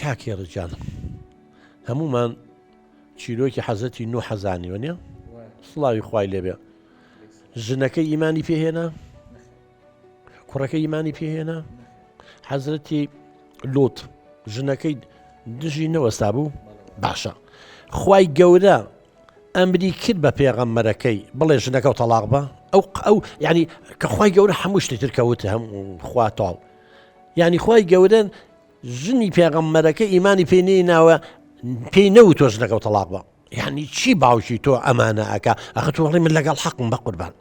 کاک هێڕش گیان هەموومان چیرۆکی حەزەتی نوح حەزانیوە نیە سڵاوی خوای لێبێ ژنەکە ئیمانی پێهێنا کوڕەکە ئیمانی پێهێنا حەزرەتی لوت ژنەکەی دژی نەوەستا بوو باشە خی گەورە ئەمری کرد بە پێغەممەرەکەی بڵێ ژنەکە و تەلاق بە ئەو ئەو ینی کە خی گەورە هەموو شتێتر کەوت هەم خواتاڵ ینی خی گەورن ژنی پێغەمبەرەکە ئیمانی پێ نەیناوە پێی نەوت تۆ ژنەکەو تەڵاق بە یعنی چی باوکی تۆ ئەمانە ئەکا ئەخە تۆ هەڵی من لەگەڵ حەقم بە قوربان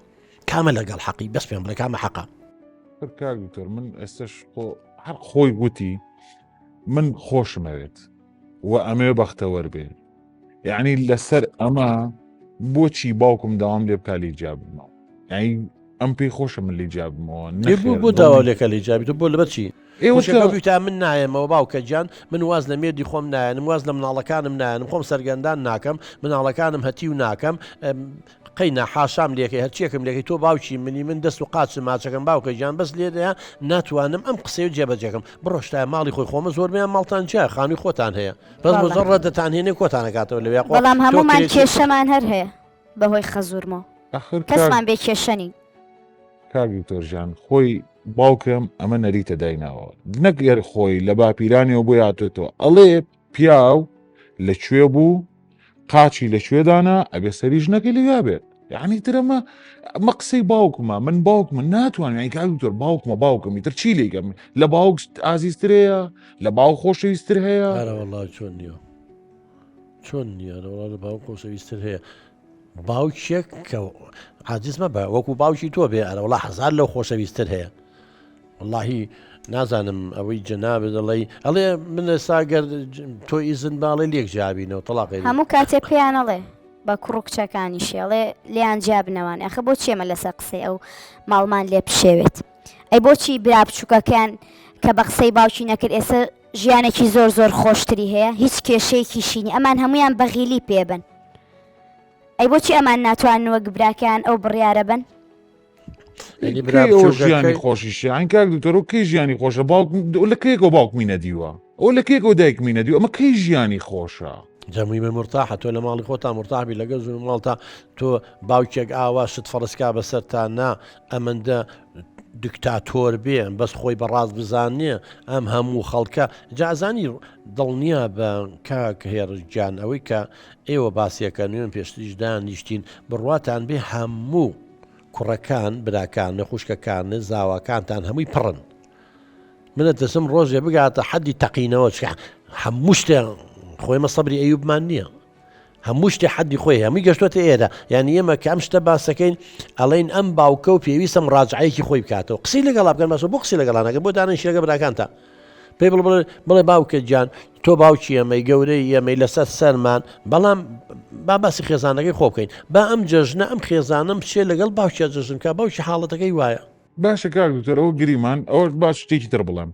کامە لەگەڵ حەقی بەس پێم بڵێ کامە حەقە پر کاک دکتۆر من ئێستش خۆ هەر خۆی گوتی من خۆشمەوێت و ئەمەوێ بەختەوەر بێ یعنی لەسەر ئەمە بۆچی باوکم داوام لێ بکە لێ جیابمەوە یعنی ئەم پێی خۆشە من لێ جیابمەوە بۆ داوا لێکە لێ جابیت بۆ لە بەچی تا من نایەمەوە باوکە گیان من واز لە مێردی خۆم نایەنم واز لە مناڵەکانم نایەنم خۆم سەرگەندان ناکەم مناڵەکانم هەتی و ناکەم قەی نا حاشام لێکەی هەرچیەکم لێکەی تۆ باوکی منی من دەست و قاچ ماچەکەم باوکە گیان بەس لێرەیە ناتوانم ئەم قسەی جێبەجێکەم بڕۆ شتایە ماڵی خۆی خۆمە زۆربەیان ماڵتان جیایە خانووی خۆتان هەیە بەس بەڵێ. مزەڕە دەتانهێنێ کۆتانەکاتەوە لەوێ خۆ بەڵام تۆ هەموومان کرێچی- کێشەمان هەر هەیە بەهۆی خەزورمەوە ئەخر کاک کەسمان بێ کێشە نین کاک دکتۆر ژیان خۆی باوکم ئەمە نەریتە دایناوە نەک گەر خۆی لە باپیرانیەوە بۆی هاتۆتەوە ئەڵێ پیاو لە کوێ بوو قاچی لە کوێ دانا ئەبێ سەری ژنەکەی لەوێ بێت یعنی تر ئەمە ئەمە قسەی باوکمە من باوکمە ناتوانم یعنی کاک دکتۆر باوکمە باوکم ئیتر چی لێی گەم لە باوک ئازیزتر هەیە لە باوک خۆشەویستتر هەیە ئارە والله چۆن نییە چۆن نییە لە وڵات لە باوک خۆشەویستتر هەیە باوکێک کە عاجز مەبە وەکو باوکی تۆ بێ ئەرە وڵا هزار لەو خۆشەویستتر هەیە واللهی نازانم ئەوەی جەنابێ دەڵی ئەڵێ منە ساگەر تۆ ئیزن باڵێ لێک جیابینەوە تەڵاق هەموو کاتێک پێیانەڵێ بە کوڕ و کچەکانی شێڵێ لیان جیابنەوان ئەخە بۆ چێمە لەسەر قسەی ئەو ماڵمان لێ پشێوێت ئەی بۆچی برا بچووکەکەیان کە بە قسەی باوکی نەکرد ئێستا ژیانێکی زۆر زۆر خۆشتری هەیە هیچ کێشەیەکیشی نیە ئەمان هەموویان بەغیلی پێبن ئەی بۆچی ئەمان ناتوان وەک براکەیان ئەو بڕیارە بن ژیانی خۆشیشیان کاک دوتەرۆ کەی ژیانی خۆشە باوک لە کێکەوە باوکمی نەدیوە ئەو لە کێکەوە دایکمی نەدیوە ئەمە کەی ژیانی خۆشە جەمویمە مورتاحە تۆ لە ماڵی خۆتا مورتاح بی لەگەڵ زوو ماڵتا تۆ باوکێک ئاوا شت فەڕسکا بەسەر تا نا ئەمەندە دکتاتۆر بێ بەس خۆی بەڕاست بزانێ ئەم هەموو خەڵکە جازانی دڵنیا بە کاک هێرجان ئەوەی کە ئێوە باسیەکە نوێن پێشتریش دانیشتین بڕواتان بێ هەموو کوڕەکان براکان نە خوشکەکان زاواکانتان هەمووی پڕن منە تەسم ڕۆژێ بگاتە حەدی تەقینەوە چ هەموو شتێ خۆیمە سەبری ئەیوبمان نییە هەموو شتێ حەدی خۆی هەمووی گەشتوەتە ئێرە یعنی ئێمە کە ئەم شتە باسەکەین ئەڵین ئەم باوکە و پێویستم ڕاجعەیەکی خۆی بکاتەوە قسی لەگەڵ بکەن مەسە بۆ قسی لەگەڵانەکە بۆ دانە شێگە براکانتە پێی بڵ بڵێ باوکە گیان تۆ باوکی ئەمەی گەورەی ئەمەی لەسەر سەرمان بەڵام با باسی خێزانەکەی خۆ بکەین با ئەم جەژنە ئەم خێزانم شێ لەگەڵ باوکە جەژنکە باوکی حاڵەتەکەی وایە باشە کاک دکتۆر ئەوە گریمان ئەوە با شتێکی تر بڵێم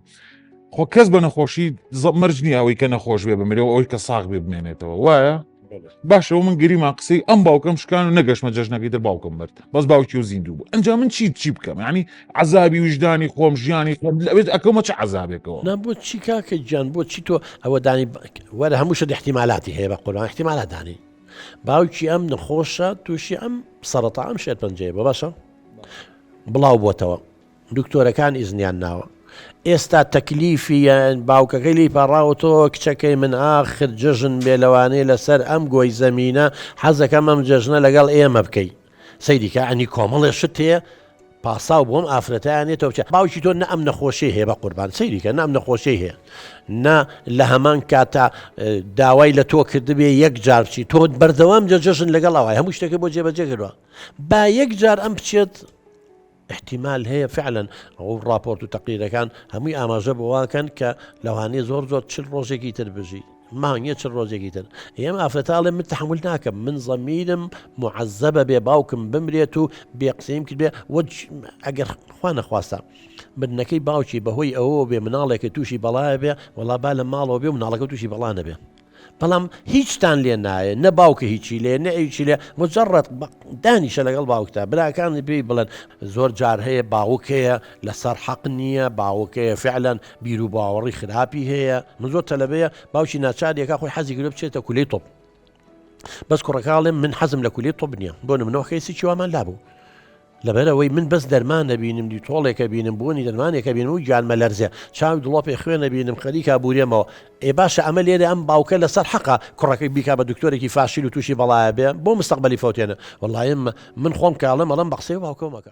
خۆ کەس بە نەخۆشی زە- مەرج نییە ئەوەی کە نەخۆش بێ بمرێ و ئەوەی کە ساغ بێ بمێنێتەوە وایە باشەوە من گریمان قسەی ئەم باوکەم شکان و نەگەشمە جەژنەکەی تر باوکم مرد بەس باوکی و زیندوو بوو ئەنجا من چی چی بکەم ینی عذابی وژدانی خۆم ژیانی خۆم لەوێت ئەکەمە چ عذابێکەوە نا بۆ چی کاکە گیان بۆ چی تۆ ئەوە دانی ب- وەرە هەموو شت احتیمالاتی هەیە بە قوربان احتیمالات دانی باوکی ئەم نەخۆشە تووشی ئەم سەرەتا ئەم شێرپەنجەیە بۆ باشە بڵاو بۆتەوە دکتۆرەکان ئیزنیان ناوە ئێستا تەکلیفی یان باوکەکەی لی پاڕاوە تۆ کچەکەی من ئاخر جەژن بێ لەوانەیە لەسەر ئەم گۆی زەمینە حەزەکەم ئەم جەژنە لەگەڵ ئێمە بکەی سەیریکە ئەنی کۆمەڵێ شت هەیە پاساو بۆم ئافرەتیانێ تۆ بچێت باوکی تۆ نە ئەم نەخۆشی هەیە بە قوربان سەیریکە نام نەخۆشی هەیە نە لە هەمان کاتا داوای لە تۆ کردبێ یەک جارچی تۆ بەردەوام جە جەژن لەگەڵ ئەوای هەموو شتەکە بۆ جێبەجێ کردوە با یەک جار ئەم بچێت احتیمال هەیە فعلەن ئەو راپۆرت و تەقیرەکان هەمووی ئاماژە بۆواکەن کە لەوانەیە زۆر زۆر چل ڕۆژێکی تر بژی مانگە چ ڕۆژێکی تر ئێمە ئافرەتاڵێ من تحمل ناکەم من زەمیرم معەزەبە بێ باوکم بمرێت و بێ قسەیم کرد بێ ئەگەر خوا نەخواستە مردنەکەی باوکی بەهۆی ئەوە بێ مناڵێکە تووشی بەڵایە بێ وڵا با لە ماڵەوە بێ مناڵەکە تووشی بەڵانە بێ بەڵام هیچتان لێ نایە نە باوکە هیچی لێ نە ئەویچی لێ مجرڕەت دانیشە لەگەڵ باوکتا براکان پێی بڵێن زۆر جار هەیە باوکەیە لەسەر حەق نییە باوکەیە فعلەن بیر و باوەڕی خراپی هەیە من زۆر تەلەبەیە باوکی ناچارێکە خۆی حەزی گرە بچێتە کولی تۆپ بەس کوڕەکەڵێ من حەزم لە کولی تۆپ نییە بۆ منەوەخی سیچوامان لابوو لەبەر ئەوەی من بەس دەرمان ئەبینم دی تۆڵێک ئەبینم بۆنی دەرمانێک ئەبینم و گیان مەلەرزێ چاوی دڵۆپێ خوێن ئەبینم خەریکا بورێمەوە ئێ باشە ئەمە لێرە ئەم باوکە لەسەر حەقە کوڕەکەی بیکا بە دکتۆرێکی فاشیل و تووشی بەڵایە بێ بۆ مستەقبەلی فەوتێنە وەڵایە من خۆم کاڵم ئەڵێم بە قسەی باوکەو مەکە